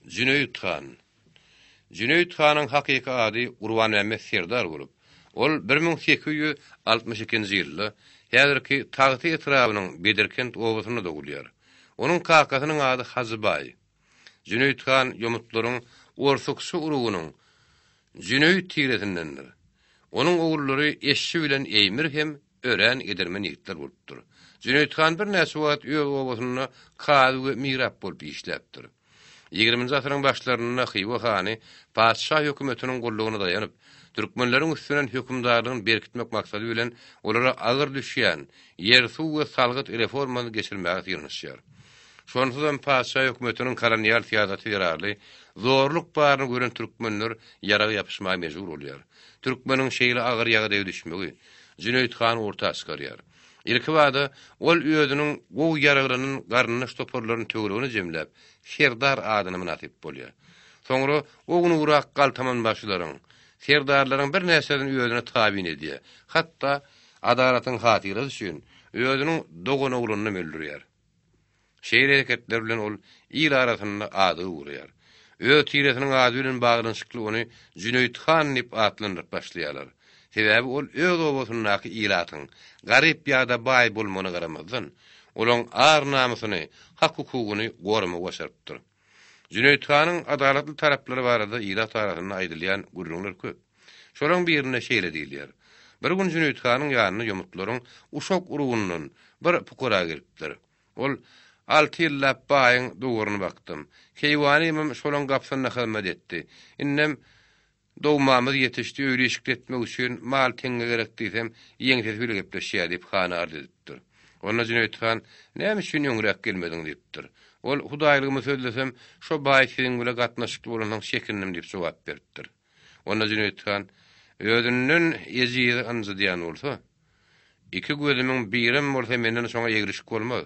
Jüneýit han. Jüneýit hanyň hakyky ady Gurbanmämmet serdar bolup, ol bir müň sekiz ýüz altmyş ikinji ýylda häzirki Tagty etrabynyň Bedirkent obasynda dogulýar. Onuň kakasynyň ady Hajy baý. Jüneýit han ýomutlaryň orsukçy urugynyň Jüneýit tiresindendir. Onuň ogullary Eşşi bilen Eýmir hem örän edermen ýigitler bolupdyr. Jüneýit han birnäçe wagt öz obasynda kazy we mirap bolup işläpdir. Ýigriminji asyryň başlarynda Hywa hany patyşa hökümetiniň gullugyna daýanyp, türkmenleriň üstünden hökümdarlygyny berkitmek maksady bilen olara agyr düşýän ýer-suw we salgyt reformany geçirmäge synanyşýar. Şonsuzam patyşa hökümetiniň kolonial syýasaty zerarly zorluk baryny gören türkmenler ýaraga ýapyşmaga mejbur bolýar. Türkmeniň şeýle agyr ýagdaýa düşmegi Jüneýit han orta çykarýar. Ilkibada ol özüniň gowy ýaraglanan garyndaş toparlaryny töweregine jemläp, serdar adyna mynasyp bolýar. Soňra ownugrak galtamanbaşylaryň, serdarlaryň birnäçesini özüne tabyn edýär, hatda adalatyň hatyrasy üçin özüniň doganoglanyny hem öldürýär. Şeýle hereketler bilen ol il arasynda ady gowraýar. Öz tiresiniň ady bilen baglanyşykly ony Jüneýit han diýip atlandyryp başlaýarlar. Sebäbi ol öz obasyndaky ilatyň garyp ýa-da baý bolmagyna garamazdan, olaň ar-namysyny, hak-hukugyny goramagy başarypdyr. Jüneýit hanyň adalatly taraplary barada ilat arasynda aýdylýan gürrüňler köp. Şolaryň birinde şeýle diýilýär, Bir gün Jüneýit hanyň ýanyna ýomutlaryň Uşak urugyndan bir pukara gelipdir. Ol, Alty ýyllap baýyň dowaryny bakdym. Keýwanymym şolaň gapysynda hyzmat etdi. Indem Dogmamyz ýetişdi, öýli-işikli etmek üçin mal teňňe gerek diýsem, ýeňsesi bile gepleşýär diýip, hana arz edipdir. Onda Jüneýit han, Näme üçin öňräk gelmediň? diýipdir. Ol, Hudaýlygymy sözlesem, şo baý siziň bile gatnaşykly bolansoň çekindim diýip jogap beripdir. Onda Jüneýit han, Özünden ejizi ynjydýan bolsa, iki gözümiň birem bolsa menden şoňa egrişik bolmaz.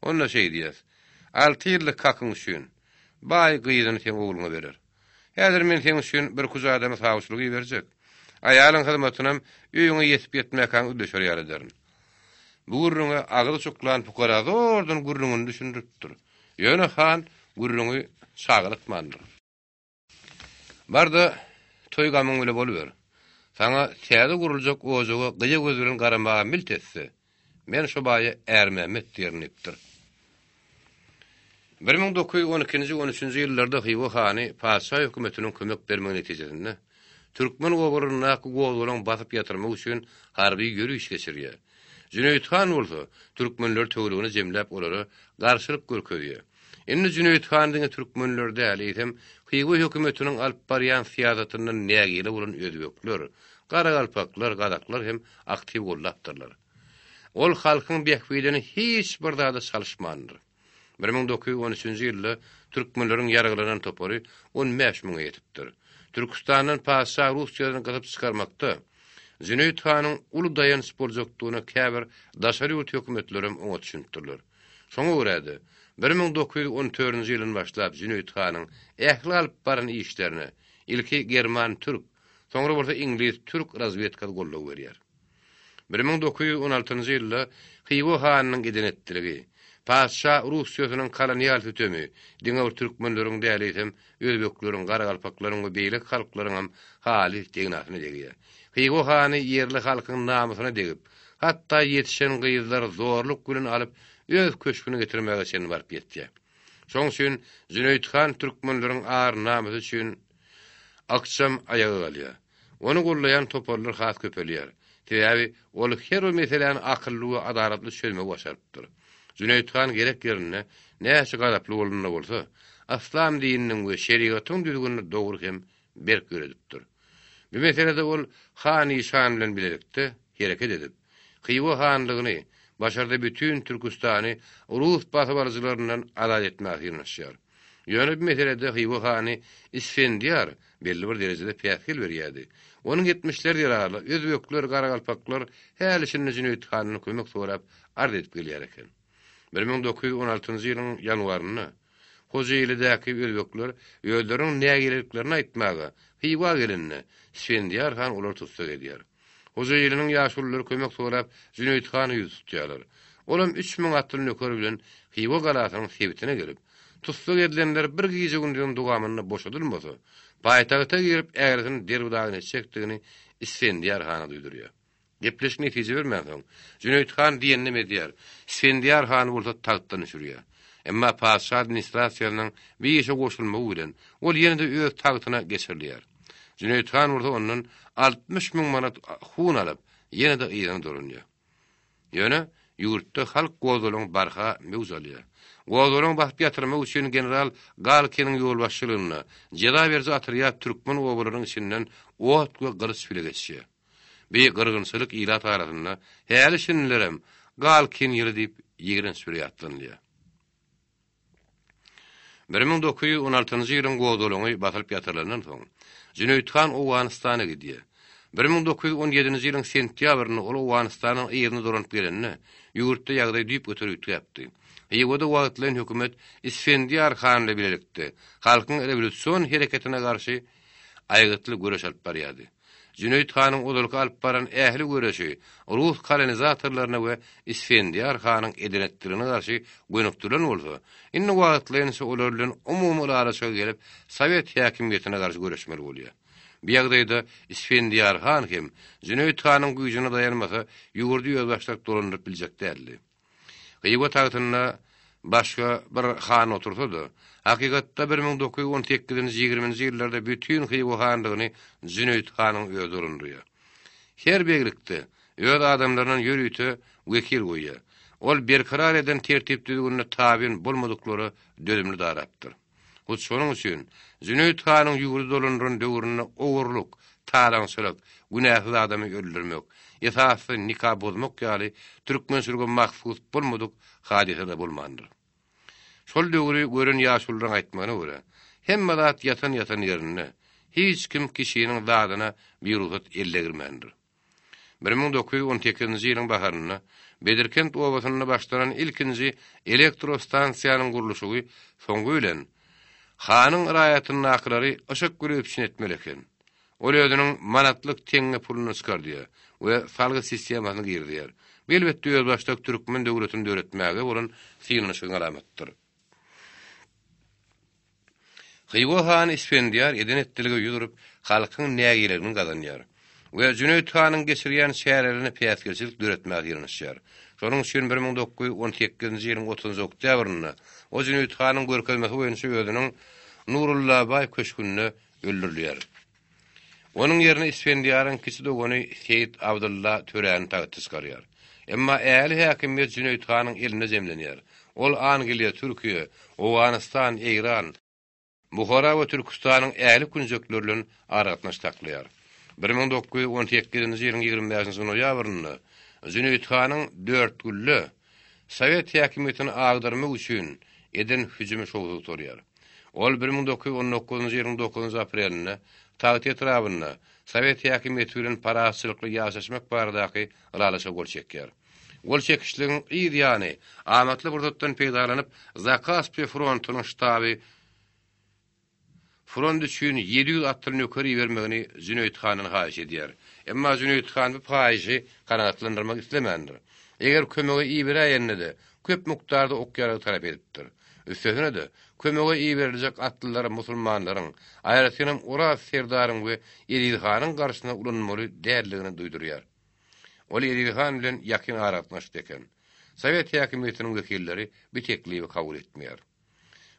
Onda şeý diýer, Alty ýyllyk hakyň üçin, baý gyzyny seň ogluňa berer. Häzir men seň üçin bir kuja adamy sawçylyga iberjek. Aýalyň hyzmatynam öýüňe ýetip-ýetmäkäň üleşer ýaly ederin. Bu gürrüňe agyz çuklan pukara zordan gürrüňini düşündiripdir. Ýöne han gürrüňi çagylykmandyr. Bar-da, toý-gamyň bile boluber. Saňa täze guruljak ojaga gyýa göz bilen garamaga milt etse, men şo baýa Ärmämmet diýerin diýipdir. Bir müň dokuz ýüz on ikinji on üçünji ýyllarda Hywa hany patyşa hökümetiniň kömek bermegi netijesinde, türkmen obalaryndaky gozgalaň basyp ýatyrmak üçin harby ýöriş geçirýär. Jüneýit han bolsa, türkmenleri töweregine jemläp olara garşylyk görkezýär. Indi Jüneýit han diňe türkmenleri däl, eýsem, Hywa hökümetiniň alyp barýan syýasatyndan nägile bolan özbekler, garagalpaklar, gazaklar hem aktiw goldapdyrlar. Ol halkyň bähbidini hiç bir zada çalyşmandyr. Bir müň dokuz ýüz on üçünji ýylda türkmenleriň ýaraglanan topary on bäş müňe ýetipdir. Türküstandan patyşa Russiýadan gysyp çykarmakda Jüneýit hanyň uly daýanç boljakdygyna käbir daşary ýurt hökümetlerem oňat düşünipdirler. Şoňa görä-de, bir müň dokuz ýüz on dördünji ýyldan başlap Jüneýit hanyň ähli alyp baran işlerine ilki german-türk, soňra bolsa iňlis-türk razwedkasy goldaw berýär. Bir müň dokuz ýüz on altynjy ýylda Hywa hanynyň eden-etdiligi, patyşa Russiýasynyň kolonial sütemi diňe bir türkmenleriň däl eýsem, özbekleriň, garagalpaklaryň we beýleki halklaryňam halys degnasyna degýär. Hywa hany ýerli halkyň namysyna degip, hatda ýetişen gyzlary zorluk bilen alyp öz köşgüne getirmäge çenli baryp ýetýär. Şoň üçin Jüneýit han türkmenleriň ar-namysy üçin, Ykjam aýaga galýar. Ony goldaýan toparlar has köpelýär. Sebäbi ol her bir meseläni akylly we adalatly çözmegi başarypdyr. Jüneýit han gerek ýerinde näçe gazaply bolanda bolsa, yslam dininiň we şerigatyň düzgünini dogry hem berk ýöredipdir. Bu meselede ol Han Işan bilen bilelikde hereket edip, Hywa hanlygyny, başarda bütin Türküstany rus basybalyjylaryndan azat etmäge synanyşýar. Ýöne bu meselede Hywa hany Isfendiýar belli bir derejede päsgel berýärdi. Onuň etmişleri zerarly özbekler, garagalpaklar häli-şindi Jüneýit handan kömek sorap arz edip gelýär eken. Bir müň dokuz ýüz on altynjy ýylyň ýanwarynda Hojaýylydäki özbekler özleriniň nägileliklerini aýtmaga Hywa gelende, Isfendiýar han olary tussag edýär. Hojaýynynyň ýaşululary kömek sorap Jüneýit hana ýüz tutýarlar. Olam üç müň atly nökeri bilen Hywa galasynyň sebitine gelip, tussag edilenler bir gije-gündiziň dogamynda boşadylmasa, paýtagta girip äresini derbi-dagyn etjekdigini Isfendiýar hana duýdurýar. Gepleşik netije bermänsoň, Jüneýit han diýeninem edýär, Isfendiýar hany bolsa tagtdan düşürýär. Emma patyşa administrasiýasynyň bir işe goşulmagy bilen, ol ýene-de öz tagtyna geçirilýär. Jüneýit han bolsa ondan altmyş müň manat hun alyp, ýene-de yzyna dolanýar. Ýöne ýurtda halk gozalygyň barha möwç alýar. Gozalygyň basyp ýatyrmak üçin general Galkiniň ýolbaşçylygynda jeza beriji otrýad türkmen obalarynyň içinden ot we gylyç bile geçýär. Beýik gyrgynçylyk ilat arasynda häli-şindilerem Galkin ýyly diýip ýigrenç bir ýatlanylýar. Bir müň dokuz ýüz on altynjy ýylyň gozgalaňy basylyp ýatyrylandan soň, Jüneýit han Owganystana gidýär. Bir müň dokuz ýüz on ýedinji ýylyň sentýabrynda ol Owganystanyň yzyna dolanyp gelende, ýurtda ýagdaý düýpgöter üýtgäpdi. Hywada wagtlaýyn hökümet Isfendiýar han bilen bilelikde halkyň rewolýusion hereketine garşy aýgytly göreş alyp barýardy. Jüneýit hanyň ozalky alyp baran ähli göreşi rus kolonizatorlaryna we Isfendiýar hanyň edenetdigine garşy gönükdirilen bolsa, indi wagtlaýynça olar bilen umumy ylalaşyga gelip, sowet häkimiýetine garşy göreşmeli bolýar. Bu ýagdaýda Isfendiýar han hem Jüneýit hanyň güýjüne daýanmasa, ýurdy özbaşdak dolandyryp biljek däldi. Hywa tagtynda başga bir han otursa-da, hakykatda bir müň dokuz ýüz on sekizinji, ýigriminji ýyllarda bütin Hywa hanlygyny Jüneýit hanyň özi gurundyrýar. Her beglikde öz adamlaryndan ýörite wekil goýýar. Ol berkarar eden tertip-düzgünine tabyn bolmadyklara dözümli darapdyr. Hut şonuň üçin Jüneýit hanyň ýurdy dolandyran döwründe ogurlyk, talaňçylyk, günäsiz adamy öldürmek, esasy nika bozmak ýaly türkmen sürgä mahsus bolmadyk hadysa-da bolmandyr. Şol döwri gören ýaşulylaryň aýtmagyna görä, hemme zat ýatan-ýatan ýerinde, hiç kim kişiniň zadyna birugsat ellgirmändir. Bir müň dokuz ýüz on sekizinji ýylyň baharynda Bedirkent obasynda başlanan ilkinji elektro stansiýanyň gurluşygy soňy bilen, hanyň raýatyndakylary yşyk bile üpjün etmeli eken. Ol özüniň manatlyk teňňe puluny çykardýar we salgy sistemasyny girizýär. Bu elbetde özbaşdak türkmen döwletini döretmäge bolan synanyşygyň alamatydyr. Hywa hany Isfendiýar eden-etdilige ýüz urup, halkyň nägileligini gazanýar we Jüneýit hanyň geçirýän çärelerine päsgelçilik döretmäge ýylanyşýar. Şonuň üçin bir müň dokuz ýüz on sekizinji ýylyň otuzynjy oktýabrynda ol Jüneýit hanyň görkezmesi boýunça özüniň Nurullabaý köşgünde öldürilýär. Onuň ýerine Isfendiýaryň kiçi dogany Seýit Abdylla töräni tagta çykarýar. Emma ähli häkimiýet Jüneýit hanyň elinde jemlenýär. Ol Angliýa, Türkiýe, Owganystan, Eýran, Buhara we Türküstanyň ähli künjekleri bilen aragatnaşyk saklaýar. Bir müň dokuz ýüz on sekizinji ýylyň ýigrimi bäşinji noýabrynda Jüneýit hanyň Dörtgülle, Sowet häkimiýetini agdarmak üçin eden hüjümi şowsuz gutarýar. Ol bir müň dokuz ýüz on dokuzynjy ýylyň dokuzynjy aprelinde Tagty etrabynda Sowet häkimiýeti bilen parahatçylykly ýaşaşmak baradaky ylalaşyga gol çekýär. Gol çekişligiň yz ýany amatly pursatdan peýdalanyp Zakaspiýa frontunyň ştaby, Front üçin ýedi ýüz atly nöker ibermegini Jüneýit handan haýyş edýär. Emma Jüneýit han bu paýyşy kanagatlandyrmak islemändir. Eger kömege iberäýende-de, köp mukdarda ok-ýarag talap edipdir. Üstesine-de, kömege iberiljek atlylar musulmanlaryň, aýratynam Oraz serdaryň we Eziz hanyň garşysyna ulanmaly däldigini duýdurýar. Ol Eziz han bilen ýakyn aragatnaşykda eken. Sowet häkimiýetiniň wekilleri bi teklibi kabul etmeýär.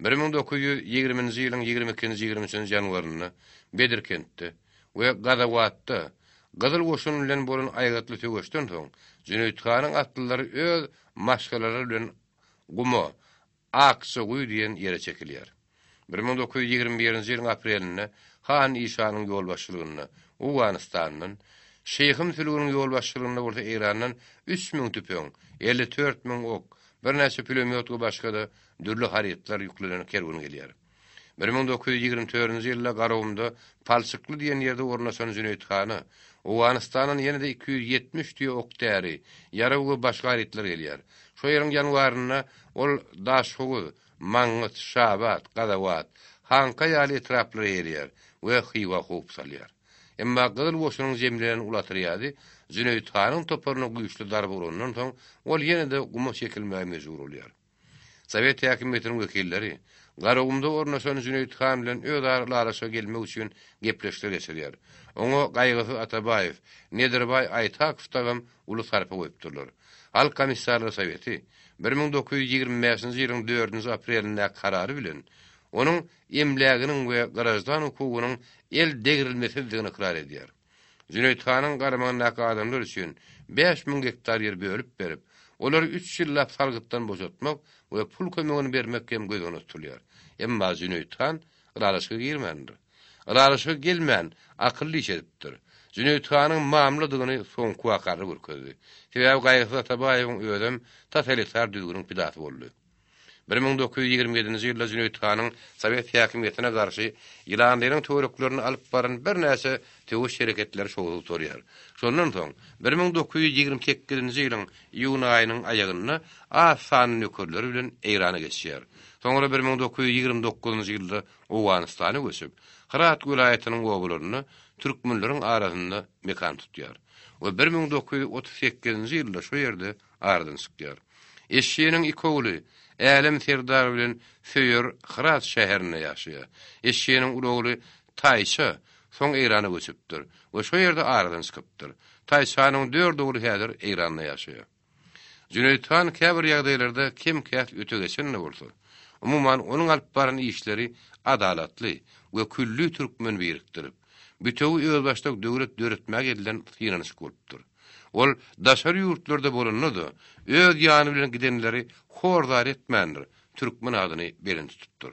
Bir müň dokuz ýüz ýigriminji ýylyň ýigrimi ikinji, ýigrimi üçünji ýanwarynda Bedirkentde we Gazawatda Gyzyl goşun bilen bolan aýgytly söweşden soň Jüneýit hanyň atlylary öz maşgalalary bilen Guma, Akjagüý diýen ýere çekilýär. Bir müň dokuz ýüz ýigrimi birinji ýylyň aprelinde han Işanyň ýolbaşçylygynda Owganystandan, Şyhym Sülgüniň ýolbaşçylygynda bolsa Eýrandan üç müň tüpeň, elli dört müň ok, Birnäçe pulemýot we başga-da dürli harytlar ýüklenen kerwen gelýär. Bir müň dokuz ýüz ýigrimi törünji ýylda Garagumda Palçykly diýen ýerde ornaşan Jüneýit hana Owganystandan ýene-de iki ýüz ýetmiş tüýe ok-däri, ýarag we başga harytlar gelýär. Şo ýylyň ýanwarynda ol Daşhowuz, Mangyt, Şabat, Gazawat, Hanka ýaly etraplara ýerýär we Hywa howp salýar. Emma Gyzyl goşunyň jemlenen uly otrýady Jüneýit hanyň toparyna güýçli zarba urandan soň, ol ýene-de guma çekilmäge mejbur bolýar. Sowet häkimiýetiniň wekilleri Garagumda ornaşan Jüneýit han bilen özara ylalaşyga gelmek üçin gepleşikler geçirýär. Oňa Gaýgysyz Atabaýew, Nedirbaý Aýtakow dagam uly sarpa goýupdyrlar. Halk Komissarlar Soweti bir müň dokuz ýüz ýigrimi bäşinji ýylyň dördünji aprelindäki karary bilen, onuň emläginiň we graždan hukugynyň el degrilmesizdigini ykrar edýär. Jüneýit hanyň garamagyndaky adamlar üçin bäş müň gektar ýer bölüp berip, olary üç ýyllap salgytdan boşatmak we pul kömegini bermek hem göz öňünde tutulýar. Emma Jüneýit han ylalaşyga girmändir. Ylalaşyga gelmän, akylly iş edipdir. Jüneýit hanyň mamladygyny soňky waka-da görkezdi. Sebäbi Gaýgysyz Atabaýewiň özem tas elitar düzgüniň pidasy boldy. Bir müň dokuz ýüz ýigrimi ýedinji ýylda Jüneýit hanyň sowet häkimiýetine garşy Ýylandeýniň törüklerinde alyp baran birnäçe söweş hereketleri şowsuz gutarýar. Şondan soň, bir müň dokuz ýüz ýigrimi sekizinji ýylyň iýun aýynyň aýagynda az sanly nökerleri bilen Eýrana geçýär. Soňra bir müň dokuz ýüz ýigrimi dokuzynjy ýylda Owganystana göçüp, Hyrat welaýatynyň obalarynda türkmenleriň arasynda mekan tutýar we bir müň dokuz ýüz otuz sekizinji ýylda şu ýerde aradan çykýar. Eşşiniň iki ogly Älem serdar bilen Söýer Hyrat şäherinde ýaşaýar. Eşşiniň uly ogly Taýça soň Eýrana göçüpdir we şo ýerde aradan çykypdyr. Taýçanyň dört ogly häzir Eýranda ýaşaýar. Jüneýit han käbir ýagdaýlarda kem-käs öte geçen-de bolsa, umuman onuň alyp baran işleri adalatly we külli türkmeni birikdirip, bütewi özbaşdak döwlet döretmäge edilen synanyşyk bolupdyr. Ol daşary ýurtlarda bolanda-da, öz ýany bilen gidenleri hor-zar etmändir, türkmen adyny belent tutupdyr.